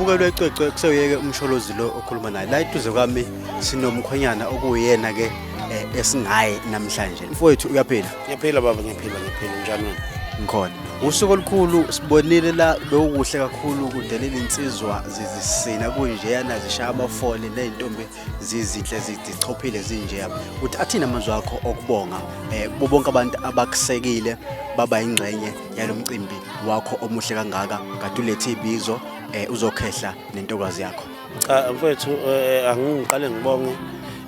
umbukelwe ecwecwe kusewuyeke umsholozi lo okhuluma naye la eduze kwami sinomkhwenyana okuyena-ke eh, esingaye namhlanje mfowethu uyaphila ngiyaphila baba ngiyaphila ngiyaphila njani wena ngikhona usuku olukhulu sibonile la bewukuhle kakhulu kudelela insizwa zizisina kunjeyana zishaya abafole ney'ntombi zizinhle zichophile zinjeya uthi athini amazwi akho okubonga eh kubo bonke abantu abakusekile baba ingxenye yalomcimbi wakho omuhle kangaka kade ulethe ibizo eh uzokhehla nentokazi yakho cha mfethu eh, angiqale ngibonge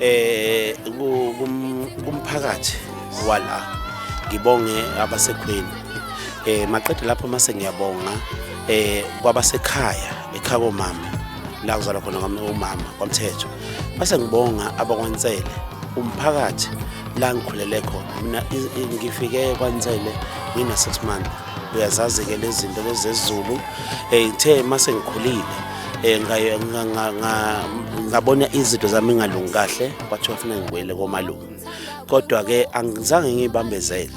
eh kumphakathi wala ngibonge abasekhweni eh maqede lapho mase ngiyabonga eh kwabasekhaya ekhabo mama la kuzalwa khona umama kwamthetho base ngibonga abakwansele umphakathi la ngikhulele khona mina ngifike kwansele ngina-six month uyazazi-ke lezi zinto lezezulu um eh, ithe uma sengikhulile um ngabona izinto zami ingalungi kahle kwathiwa funa ngibuyele komalume kodwa-ke angizange ngiyibambezele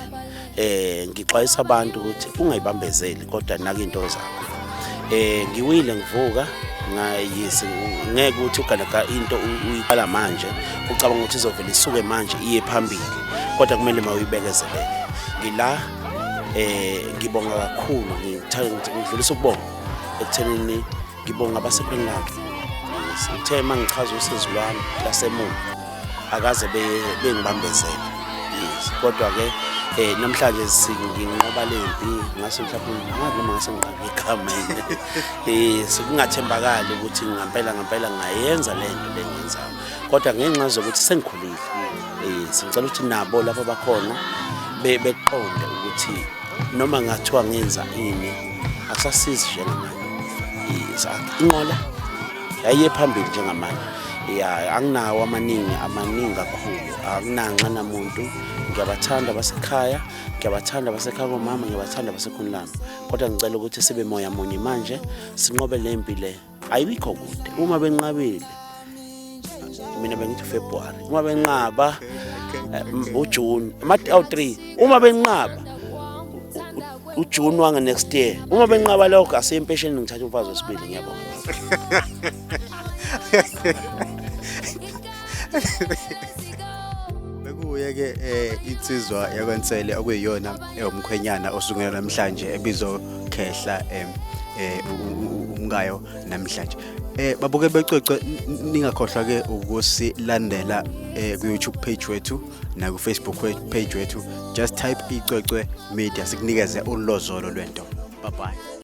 eh ngixwayisa abantu ukuthi ungayibambezeli kodwa naka into zakho eh ngiwile ngivuka ngayisi ngeke ukuthi ugaleka into uyiqala manje ucabanga ukuthi izovela isuke manje iye phambili kodwa kumele mawuyibekezelele ngila eh ngibonga kakhulu ngithanda ngidlulisa ukubonga ekuthenini ngibonga abasequinlove sithe uma ngichaza usizi lwami lasemuva akaze bengibambezele yes kodwa-ke um eh, namhlanje nginqoba le mpi ngase mhlawumbe ngazi noma ngase ngiqabe igama yini um sekungathembakali ukuthi ngampela ngampela ngayenza le nto le ngenzayo kodwa ngenxa zokuthi sengikhulile um sengicela ukuthi nabo lapho bakhona beqonde ukuthi noma ngathiwa ngenza ini akusasizi njengamanje inqola yayiye phambili njengamanje ya anginawo amaningi amaningi kakhulu akunanxa namuntu ngiyabathanda abasekhaya ngiyabathanda abasekhaya komama ngiyabathanda abasekhuni lami kodwa ngicela ukuthi sibe moya munye manje sinqobe le mpi le ayibikho kude uma benqabile mina bengithi February uma benqaba eh, uJune awu 3 uma benqaba uJune wange next year uma benqaba lokho asempesheni ngithatha umfazi wesibili ngiyabonga bekuye ke eh insizwa yakwensele okuyiyona umkhwenyana osungela namhlanje ebizokhehla em eh, eh, umkayo namhlanje eh babuke becwecwe ningakhohlwa ke ukusilandela eh ku YouTube page wethu na ku Facebook page wethu just type icwecwe media sikunikeze ulozolo lwento bye bye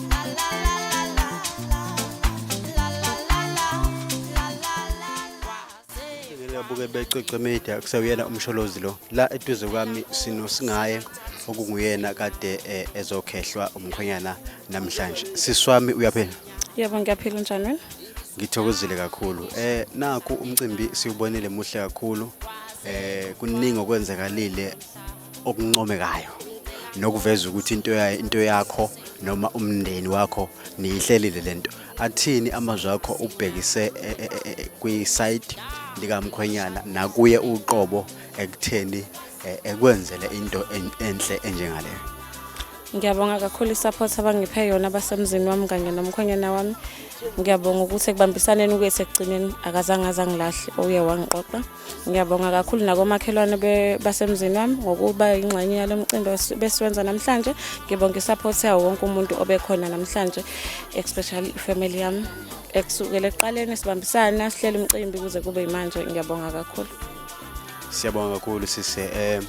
abuke becwecwe media kusewuyena umsholozi lo la eduze kwami sino singaye okunguyena kade eh, ezokhehlwa umkhwenyana namhlanje siswami uyaphela yebo ngiyaphila njani wena ngithokozile kakhulu eh naku umcimbi siwubonile muhle kakhulu eh kuningi okwenzakalile okuncomekayo nokuveza ukuthi into into yakho noma umndeni wakho niyihlelile lento athini amazwi akho ubhekise e, e, e, kwi site likamkhwenyana nakuye uqobo ekutheni ekwenzele into enhle enjengaleyo ngiyabonga kakhulu isupport abangiphe yona abasemzini wami kanye nomkhwenyana wami ngiyabonga ukuthi ekubambisaneni kwethu ekugcineni akazange azangilahle oye wangiqoqa Ngiyabonga kakhulu nakomakhelwane basemzini wami ngokuba ingxenye yalo mcimbi besiwenza namhlanje. Ngibonga i-support yawo wonke umuntu obekhona namhlanje especially ifamily yami ekusukela ekuqaleni sibambisana sihlele umcimbi kuze kube yimanje. Ngiyabonga kakhulu. Siyabonga kakhulu sise eh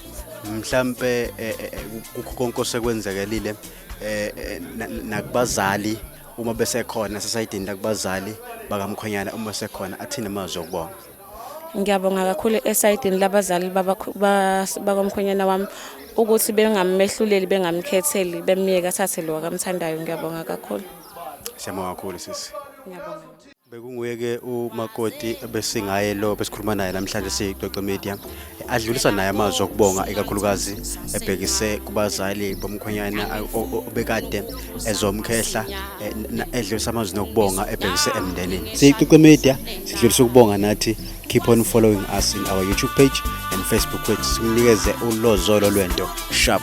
mhlambe eh, eh, eh, kukho konke osekwenzekelile eh nakubazali uma besekhona sesayidini lakubazali bakamkhonyana uma sekhona athina amazwi okubonga Ngiyabonga kakhulu esayidini labazali bakomkhwenyana wami ukuthi bengamehluleli bengamkhetheli bemyeke athathe lo wakamthandayo ngiyabonga kakhulu. Siyabonga kakhulu sisi. Ngiyabonga. Bekunguye-ke umakoti ebesingaye lo besikhuluma naye namhlanje siyicoco media adlulisa naye amazwi okubonga ikakhulukazi ebhekise kubazali bomkhwenyana obekade ezomkhehla eh, edlulisa amazwi nokubonga ebhekise emndenini siyiqiqe media sidlulisa ukubonga nathi keep on following us in our youtube page and facebook page simnikeze ulozolo lwento sharp